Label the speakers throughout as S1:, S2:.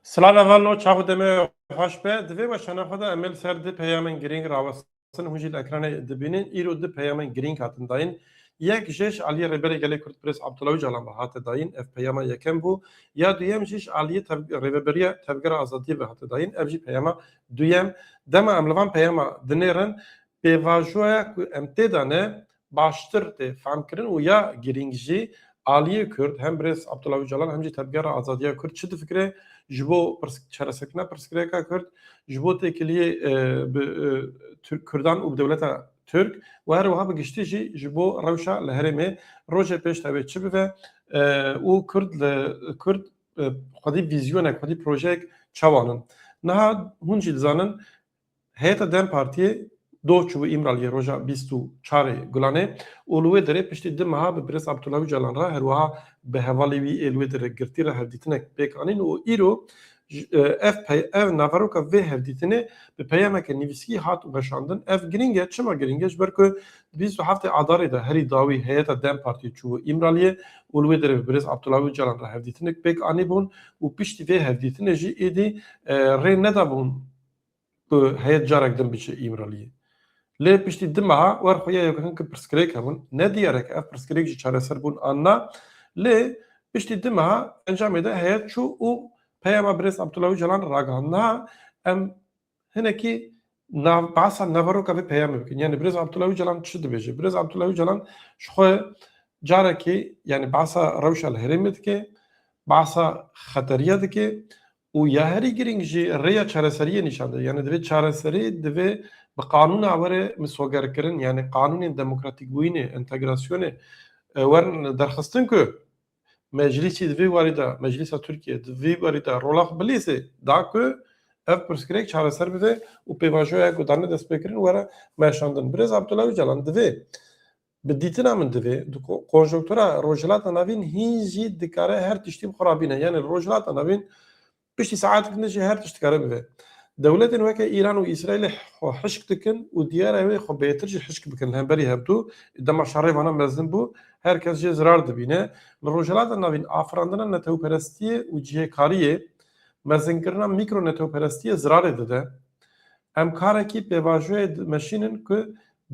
S1: Silana van no çaxu demê xweş be. Di vê weşana xwe de em ê li ser du peyamên girîng rawestin hûn jî li ekranê dibînin. Îro du peyamên girîng hatin dayîn. Yek jê ji aliyê Rêberê Gelê Kurd Pirêz Abdullah Ocalan ve hate dayîn. Ev peyama yekem bû. Ya duyem jî ji aliyê Rêveberiya Tevgera Azadiyê ve hate dayîn. Ev jî peyama duyem. Dema em li van peyama dinêrin pêvajoya ku em tê de ne baştir tê femkirin û ya girîng jî aliyê Kurd hem birêz Abdullah Ocalan hem jî Tevgera Azadiya Kurd çi difikire ji bo çareserkirina pirsgirêka Kurd ji bo têkiliyê bi Kurdan û bi dewleta Türk û her wiha bi giştî jî ji bo rewşa li herêmê rojê pêş tevê çi bibe û Kurd li Kurd xwedî vîzyonek xwedî projeyek çawa nin. Niha hûn jî dizanin Heyeta dem partiyê doh çûbû Îmraliyê roja bîst û çar ê Gulanê û li wê derê piştî di meha bi Birêz Abdullah Ocalan re her wiha bi hevalê wî ê li wê derê girtî re hevdîtinek pêk anîn û îro ev ev naveroka vê hevdîtinê bi peyameke nivîskî hat weşandin. Ev girîng e, çima girîng e? Ji ber ku di bîst û heftê Adarê de herî dawî heyeta dem partiyê çûbû Îmraliyê û li wê derê bi Birêz Abdullah Ocalan re hevdîtinek pêk anîbûn û piştî vê hevdîtinê jî êdî rê nedabûn ku heyet carek din biçe Îmraliyê. Lê piştî du meha wer xuya ye ku hinki pirsgirêk hebûn. Ne diyar e ku ev pirsgirêk jî çareser bûn an na. Lê piştî du meha encamê de heyet çû û peyama birêz Abdullah Ocalan ragihand. Niha em hinekî nav behsa naveroka vê peyamê bikin. Yanî birêz Abdullah Ocalan çi dibêje? Birêz Abdullah Ocalan ji xwe carekê yanî behsa rewşa li herêmê dike, behsa xeteriya dike Û ya herî girîng jî rêya çareseriyê nîşan dide. Yanî divê çareserî divê bi qanûn a were misogerkirin yanî qanûnên demokratîkbûyînê, entegrasyonê werin derxistin ku meclîsî di vî warî de, meclîsa Tirkiyeyê di vî warî de rola xwe bilîzê da ku ev pirsgirêk çareser bibe û pêvajoya ku dane destpêkirin were meşandin. Birêz Abdullah Ocalan divê Bi dîtina min divê di konjonktura Rojhilata Navîn hîn jî dikare her tiştî bi xwe re bîne. Yanî li Rojhilata Navîn piştî saetekî din jî her tişt dikare bibe. Dewletên weke Îran û Îsraîlê xwe hişk dikin û diyar e wê xwe bêtir jî hişk bikin. Li hemberî her du dema şerê wana mezin bû, her kes jê zirar dibîne. Li Rojhilata Navîn afirandina netewperestiyê û cihêkariyê, mezinkirina mîkro-netewperestiyê zirarê dide. Em karekî pêvajoyê dimeşînin ku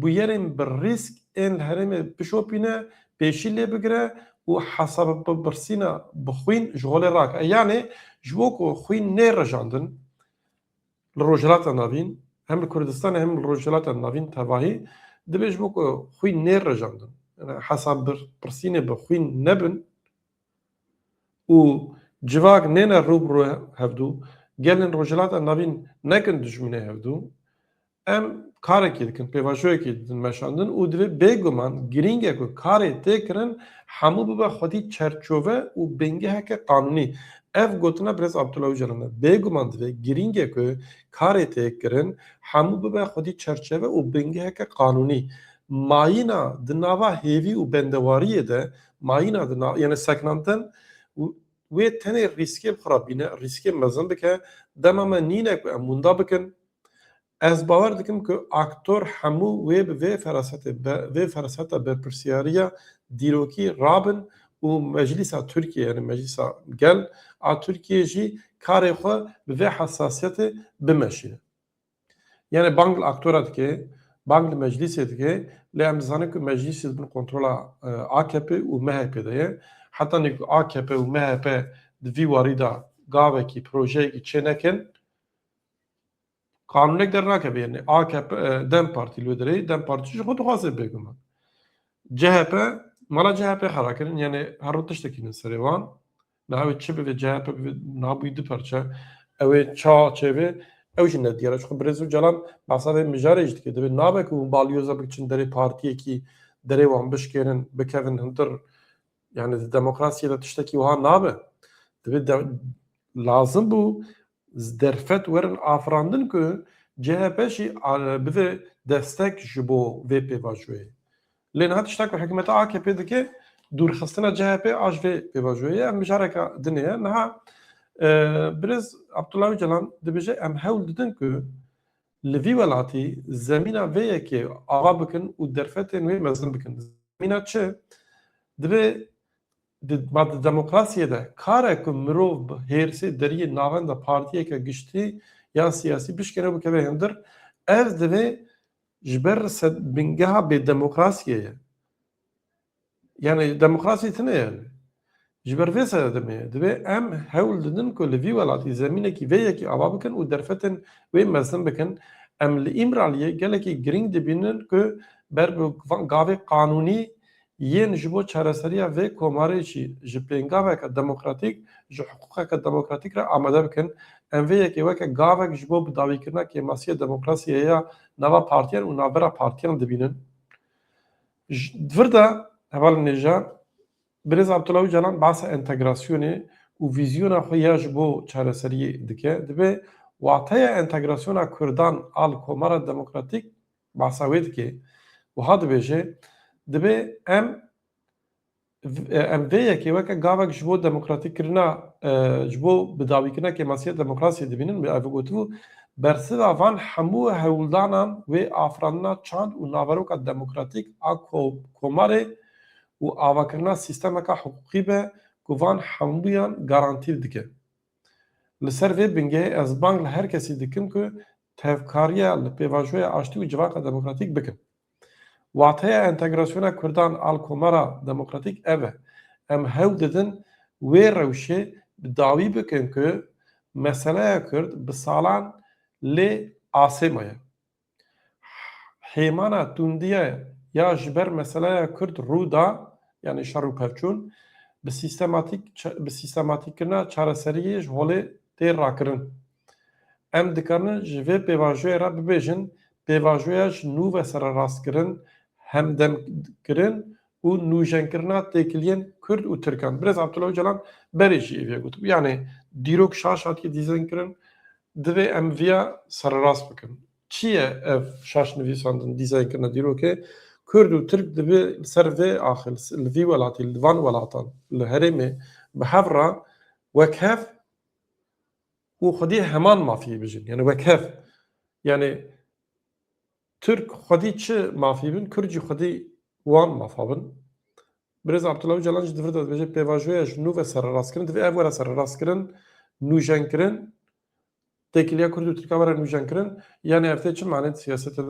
S1: bûyerên bi rîsk ên li herêmê bişopîne, pêşî lê bigire û hesabpirsîna bi xwîn ji holê rake. Yanê ji bo ku xwîn nê rejandin li Rojhilata Navîn, hem li Kurdistanê hem li Rojhilata Navîn tevahî dibê ji bo ku xwîn nê rejandin hesabpirsînê bi xwîn nebin û civak nêne rû bi rû hevdû, gelên Rojhilata Navîn nekin dijminê hevdû, Em karekê dikin, pêvajoyekê didin meşandin û divê bêguman girîng e ku karê tê kirin hemû bibe xwedî çerçove û bingeheke qanûnî. Ev gotina Birêz Abdullah Ocalan e. Bêguman divê girîng e ku karê tê kirin hemû bibe xwedî çerçeve û bingeheke qanûnî. Mayîna di nava hêvî û bendewariyê de mayîna di nav yanî seknandin wê tenê rîskê bi xwe re bîne, rîskê mezin bike. Dema me nîne ku em winda bikin, Ez bawer dikim ku aktor hemû wê bi vê ferasetê be, vê feraseta berpirsiyariya dîrokî rabin û Meclîsa Tirkiyeyê yanî Meclîsa Gel a Tirkiyeyê jî karê xwe bi vê hesasiyetê bimeşîne. Yanî bang li aktora dike, bang li meclîsê dike lê em dizanin ku meclîsê di bin kontrola AKP'ê û MHP'ê de ye. Hetanî ku AKP û MHP di vî warî de gavekî, projeyekî çênekin, Qanûnek der nake vê yenê. AKP dem Partî li wê derê ye. Dem Partî jî xwe dixwaze bêguman. CHP mala CHP xera kirin yenê her rû tiştekî bin serê wan. Niha ew ê çi bivê CHP bivê niha bûyî du parçe. Ew ê ça çêbê ew jî nediyar e. Çixwe Birêz Ocalan behsa vê mijarê jî dike. Divê nabe ku hûn balyoza biçin derê partiyekî derê wan bişkêrin bikevin hundir yanê di demokrasiyê de tiştekî wiha nabe. Divê lazim bû Derfet werin afirandin ku CHP jî bide destek ji bo vê pêvajoyê. Lê niha tişta ku hikûmeta AKP'ê dike dûrxistina CHP'ê a ji vê pêvajoyê ye. Em mijareke din heye. Niha Birêz Abdullah Ocalan dibêje em hewl didin ku li vî welatî zemîna vê yekê ava bikin û derfetên wê mezin bikin. Zemîna çi? Divê Di demokrasiyê de kare ku mirov bi hêrsê deriyê navenda partiyeke giştî ya siyasî bişkêne û bikeve hindir, ev divê ji ber bingeha bêdemokrasiyê ye. Yanî demokrasî tune ye lê. Ji ber vê sedemê ye. Divê em hewl didin ku li vî welatî zemînekî vê yekê ava bikin û derfetên wê mezin bikin. Em li Îmraliyê gelekî girîng dibînin ku ber bi gavê qanûnî Yên ji bo çareseriya vê komarê jî ji pêngaveke demokratîk, ji hiqûqeke demokratîk re amade bikin. Em vê yekê weke gavek ji bo bidawîkirina kêmasiyê demokrasiyê ya nava partiyan û navbera partiyan dibînin. Ji vir de hevalên nêja Birêz Abdullah Ocalan behsa entegrasyonê û vîzyona xwe ya ji bo çareseriyê dike. Divê wateya entegrasyona kurdan a li komara demokratîk Bahsa wê dike. Wiha dibêje, Dibê em em vê yekê weke gavek ji bo demokratîkkirina ji bo bidawîkirina kêmasiyê demokrasiyê dibînin wê ev gotibû, Bersiva van hemû hewldanan wê afirandina çand û naveroka demokratîk a komarê û avakirina sîstemeka hiqûqî be ku van hemûyan garantî dike. Li ser vê bingehê ez bang li her kesî dikim ku tevkariya li pêvajoya aştî û civaka demokratîk bikin. Wateya entegrasyona Kurdan al komara demokratîk ev e. Em hewl didin wê rewşê bi dawî bikin ku meseleya Kurd bi salan lê asê maye. Hêmana tundiyê ya ji ber meseleya Kurd rû da, yanî şer û pevçûn, bi sîstematîk bi sîstematîkkirina çareseriyê ji holê tê rakirin. Em dikarin ji vê pêvajoyê re bibêjin pêvajoya ji nû ve sererastkirin, hemdemkirin û nûjenkirina têkiliyên Kurd û Tirkan. Birêz Abdullah Ocalan berê jî êvî gotibû. Yanê dîrok şaş hatiye dîzenkirin, divê em viya sererast bikin. Çi ye ev şaş nivîsandin, dîzenkirina dîrokê? Kurd û Tirk divê li ser vê axê, li vî welatî, li van welatan, li herêmê bi hev re wek hev, û xwedî heman mafî bijîn yanî wek hev yanî Tirk xwedî çi mafî bin Kurd jî xwedî wan mafa bin. Birêz Abdullah Ocalan jî di vir de dibêje pêvajoya ji nû ve serrastkirin divê ev were serrastkirin nûjenkirin têkiliya Kurd û Tirkan were nûjenkirin yanî ev tê çi manê di siyasetê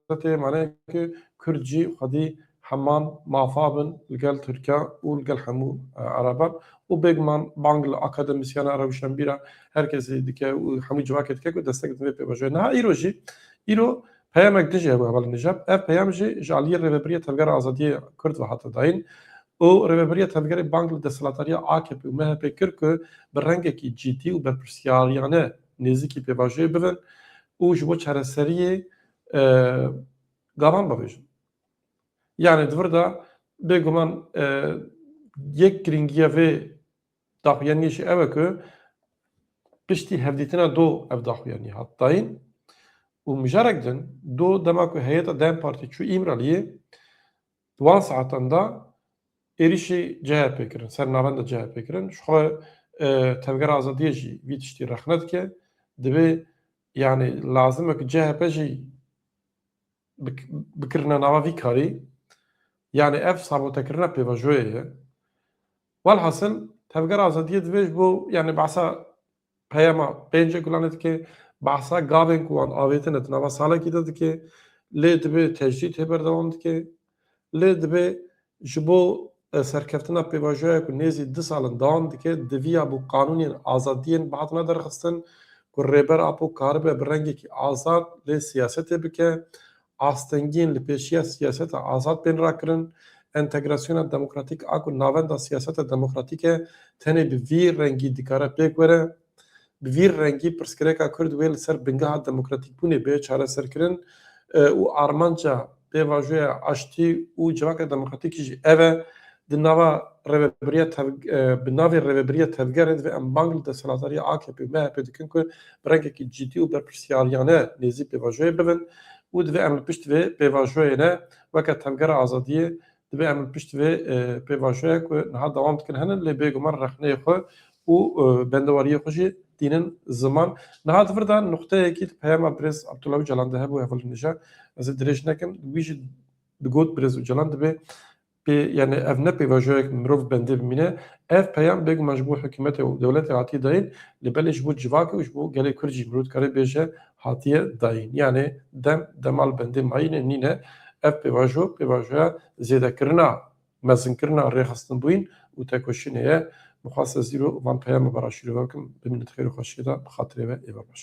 S1: de tê maneyê ku Kurd jî xwedî Heman mafa bin li gel Tirkan û li gel hemû Ereban û bêguman bang li akademisyenan, rewşenbîran her kesî dike û hemû civakê dike ku destek didin vê pêvajoyê. Niha îro jî îro peyamek din jî hebû hevalên Nijab. Ev peyam jî ji aliyê Rêveberiya Tevgera Azadiyê Kurd ve hate dayîn û Rêveberiya Tevgerê bang li desthilatdariya AKP'ê û MHP'ê kir ku bi rengekî cîdî û berpirsyariyane nêzîkî pêvajoyê bibin û ji bo çareseriyê gavan bavêjin. Yanî di vir de bêguman yek girîngiya vê daxuyaniyê jî ew e ku piştî hevdîtina do ev daxuyanî hat dayîn û mijarek din do dema ku heyeta dem Partî çû Îmraliyê di wan saetan de êrîşî CHP'ê kirin ser navenda CHP'ê kirin ji xwe Tevgera Azadiyê jî vî tiştî rexne dike divê yanî lazim e ku CHP jî bi kirina nava vî karî yanî ev sabotekirina pêvajoyê ye. Welhasil Tevgera Azadiyê divê ji bo yanî behsa peyama pêncê gulanê dike, behsa gavên ku wan avêtine di nava salekî de dike, lê divê tecrîd hê berdewam dike, Lê divê ji bo serkeftina pêvajoya ku nêzî du sal in dewam dike, diviya bo qanûnên azadiyên bihatina derxistin ku Rêber Apo karibe bi rengekî azad lê siyasetê bike, astengiyên li pêşiya siyaseta azad bên rakirin, entegrasyona demokratîk a ku navenda siyaseta demokratîk e tenê bi vî rengî dikare pêk were. Bi vî rengî pirsgirêka Kurd wê li ser bingeha demokratîkbûnê bê çareserkirin û armanca pêvajoya aştî û civaka demokratîkî jî ev e. Di nava rêvebiriya bi navê rêvebiriya tevgerê divê em bang li desthilatdarîya akp û MHPê dikin ku bi rengekî cidî û berpirsiyariyane nêzî pêvajoyê bibin û divê em li pişt vê pêvajoyê ne weke tevgera azadiyê Divê em li pişt vê pêvajoya ku niha dewam dikin henin lê bêguman rexneyê xwe û bendewariyê xwe jî tînin ziman. Niha di vir de nuqteyekî di peyama birêz Abdullah Ocalan de hebû hevalî nêja ez ê dirêj nekim. Wî jî digot birêz Ocalan divê pê yanî ev ne pêvajoyek mirov bendê bimîne. Ev peyam bêguman ji bo hikûmetê û dewletê hatiye dayîn lê belê ji bo civakê û ji bo gelê kurd jî mirov dikarê bêje hatiye dayîn yanê dem dema li bendê mayînê nîne ev pêvajo pêvajoya zêdekirina mezinkirina rêxistinbûyîn û tekoşînê ye. Mixwest ez îro van peyama vera şîrove bikim bimîne di xêr û xweşiyê de bi xatirê ve ê be baş.